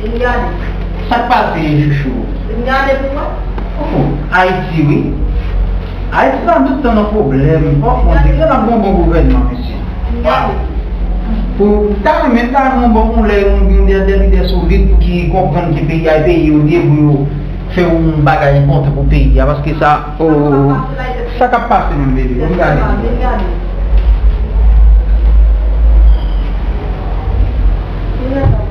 Vin gade. Sak pase chouchou. Vin gade pou wè. Ohh Haiti wi. Haiti pa tout tan nan pwoblèm. Ohh on dirè nap gen yon bon gouvènman mesye. Vin gade. Pou ta renmen ta gen yon bon yon lè yon yon dè dè lidè solid pou ki konprann ke peyi a e peyi yo li ye pou yo fè yon bagay enpòtan pou peyi a paske sa ohh sa kap pase menm bebe vin gade. Vin gade. Vin gade.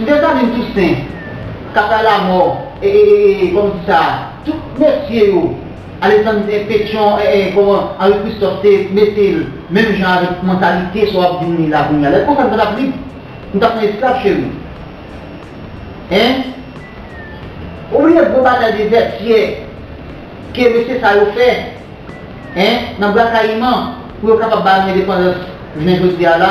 M te tande Tousen, Kaka Lamò, e, e, e, e, kòman di sa a, tout mesye yo, Aleksann Petyon, e, e, e, kòman Anri Kristòf te mete l menm jan avèk mantalite sa w ap di m li la kounye a. Lè konsa m pa t ap lib. M t ap nan esklav cheri. Hein? Ou bliye gwo batay Dezètyè ke mesye sa yo fè, hein, nan Bwakayiman pou yo kapab ba nou endepandans jounen jodi a la?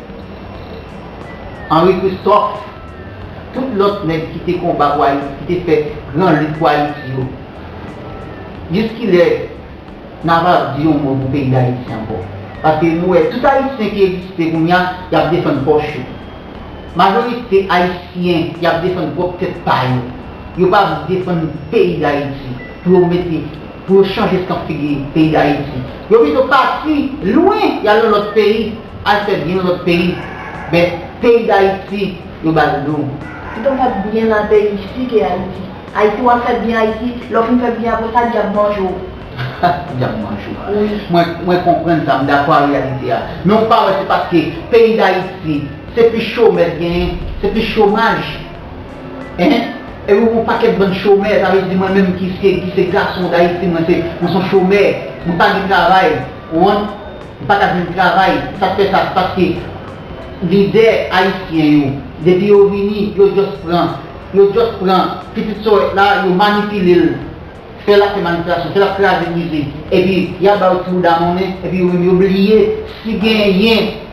Henri Christophe, tout lòt nèg ki te konba pou Ayiti, ki te fè gran lit pou Ayiti yo, jiskilè n ap ap di yon mo pou peyi Dayiti ankò? Paske nou wè tout Ayisyen ki egziste kounye a, y ap defann pòch yo. Majorite Ayisyen, y ap defann pwòp tèt pa yo. Yo pa vle defann peyi Dayiti pou yo mete. Pou yo chanje tan figi peyi dayiti yo pito pati lwen yal nan lòt peyi al fè byen nan lòt peyi men peyi dayiti yo bal do. Pito fè byen nan peyi ici ke ayiti. Ayiti wap fè byen ayiti lè w fin fè byen apresa dyab manje w. Dyab manje w wi. Mwen konprann sa, m dakò a reyalite a. Men ou pa wè se paske peyi dayiti se plis chomè k genyen, se plis chomaj. Enh epi ou gon pakèt bann chomè sa vle di mwen menm ki se gason dayiti mwen se mwen son chomè mwen pa gen travay ou an m paka jwenn travay sak fè sa se paske lidè ayisyen yo depi yo vini yo just pran yo just pran pitit sòrèt la yo manipile l fè l ap fè manipilasyon fè l ap kraze brize epi yap ba yo ti bouda monnen epi yo menm yo bliye si genyen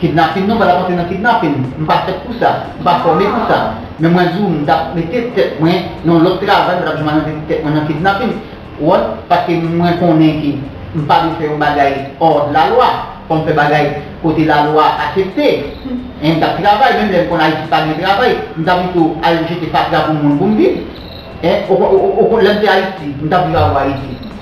Kidnapin non mwen tap antre nan kidnapin m pa fèt pou sa m pa fòme pou sa men mwen di w m tap mete tèt mwen nan yon lòt travay mwen tap di mwen antre tèt mwen nan kidnapin ou wè paske mwen konnen ke m pa dwe fè yon bagay hors de la loi fò m fè bagay kote la loi asepte e m tap travay menm lè m konn ayiti pa gen travay m ta pito al jete fatra pou moun pou m viv e lè m te ayiti m tap viv avwa ayiti.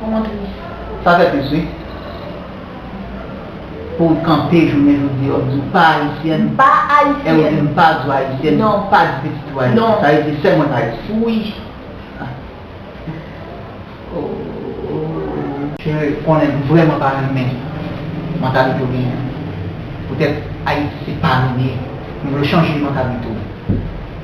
Koman tou? Sa fè plis wi. Pouw kanpe jounen jodi a ou diw pa ayisyèn M pa ayisyèn. Ew dim pa di w ayisyèn Non. M pa di pitit ou ayisyèn Non. Sa vle di fè mwen pa ayisyèn. Wi. Ooh. Se vre konnen m vrèman pa renmen mantalite w genyen an. Poutèt Ayiti se pa nou li ye. M vle w chanje mantalite w.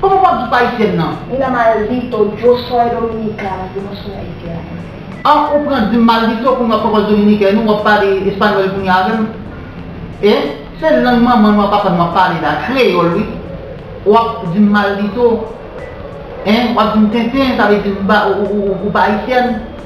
Kòman wap di pa Ayisyèn nan? Mina maldito, yo soy dominicana, yo no son haitianos. An ou pran dim maldito kounye wap poko dominiken nou wap pale español kounye avèm e se lang manman nou ak papa nou wap pale la kreyòl wi wap dim maldito e wap dim tenten sa vle di ou pa ayisyèn.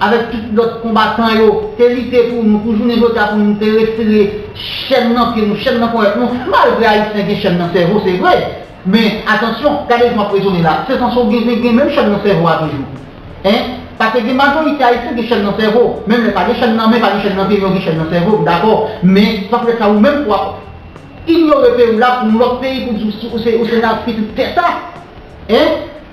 Avèk tout lòt konbatan yo te lite pou nou, pou jounen jodi a pou nou te retire chèn nan pye nou, chèn nan kòyòt nou, malgre Ayisyen gen chèn nan sèvo se vre, men atansyon, gade jan m ap rezone la, se san so gen gen menm chèn nan sèvo a toujou. Hein? Pase gen majorite Ayisyen gen chèn nan sèvo, menm lè pa gen chèn nan men, pa gen chèn nan pye, men yo gen chèn nan sèvo, m dakò, men s ap fè sa ou menm pou w ap inyore peyi w la pou yon lòt peyi pou w di w se nan pitit tè sa? Hein?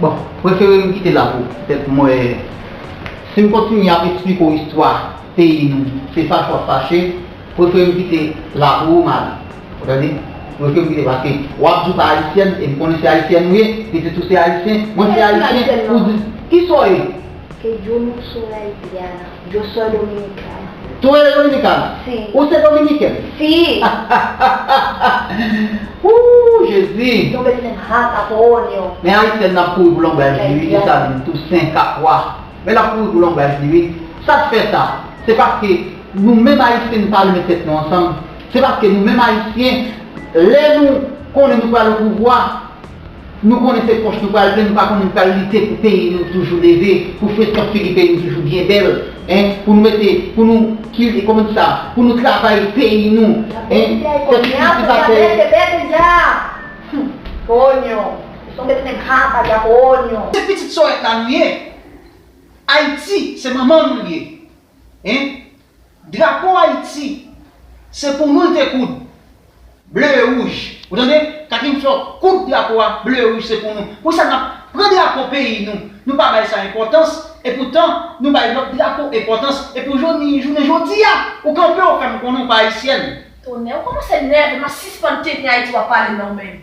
Bon, prefere m kite la pou pèt mwen Si m kontinye ap eksplike w istwa peyi nou se fache w ap fache Prefere m kite la pou ou Mari Ou tande? Prefere m kite paske w ap di w pa ayisyèn e m konnen se ayisyèn ou ye, pitit ou se ayisyen, mwen se ayisyen Ou di, kisa w ye? Se djo moun Sorel Diana. Djo sò Dominicana. Sorel Dominicana? Si. Ou se Dominiken? Si. Ooh Jezi. Yon bèt menm hat ak onyon. Men Ayisyèn nan ap kouri pou lonbraj li wi Dessalines, Toussaint, Capois. Men lap kouri pou lonbraj li wi. Sat fè sa? Se paske nou menm Ayisyen nou pa renmen tèt nou ansanm. Se paske nou menm Ayisyen lè nou konnen nou pral opouvwa. Nou konnen se pòch nou pral plen nou pa konnen pral lite pou peyi nou toujou leve pou freskan figi peyi nou toujou byen bèl hein pou nou mete pou nou ki kòman di sa pou nou travay peyi nou hein fè ti kilti pa tè. Se pitit sòrèt la nou ye ayiti se manman nou li ye hein Drapo Ayiti, se pou nou l te koud, ble e wouj. Ou tande? Kakim fè w koud drapo a, ble e wouj se pou nou. Pou ki sa n ap pran drapo peyi nou, nou pa bay sa enpòtans, epoutan nou bay lòt drapo enpòtans. E pou jounen jodi a, ou kanpe ou fè m konnen ou pa ayisyèn. Tonnè, ou kòmanse nève m, a sispann tenten Ayiti w ap pale m la ou menm.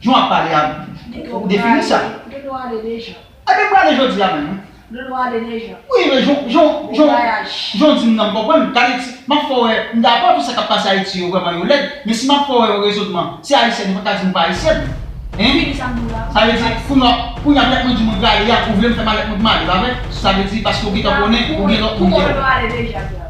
Jan w ap pale a, ou defini sa. Dodo ale deja. A depi ale jodi a menm. Dodo ale deja. Wi men jan w, jan w, jan w di m nan m konprann. M ap fè w wè, m dakò tou sa k ap pase Ayiti yo vrèman yo lèd, men si m ap fè w wè yon rezonman, se Ayisyèn yo pa t ka di nou pa Ayisyèn. Hein? Fini sa m di w la. Sa vle di, kounye a, kounye a lè mwen di mwen prale a, ou vle m fè malèt mwen pou m ale, pa vre? Sa vle di paske ou gentan konnen ou gen lòt moun ki. Pou mwen Dodo ale deja.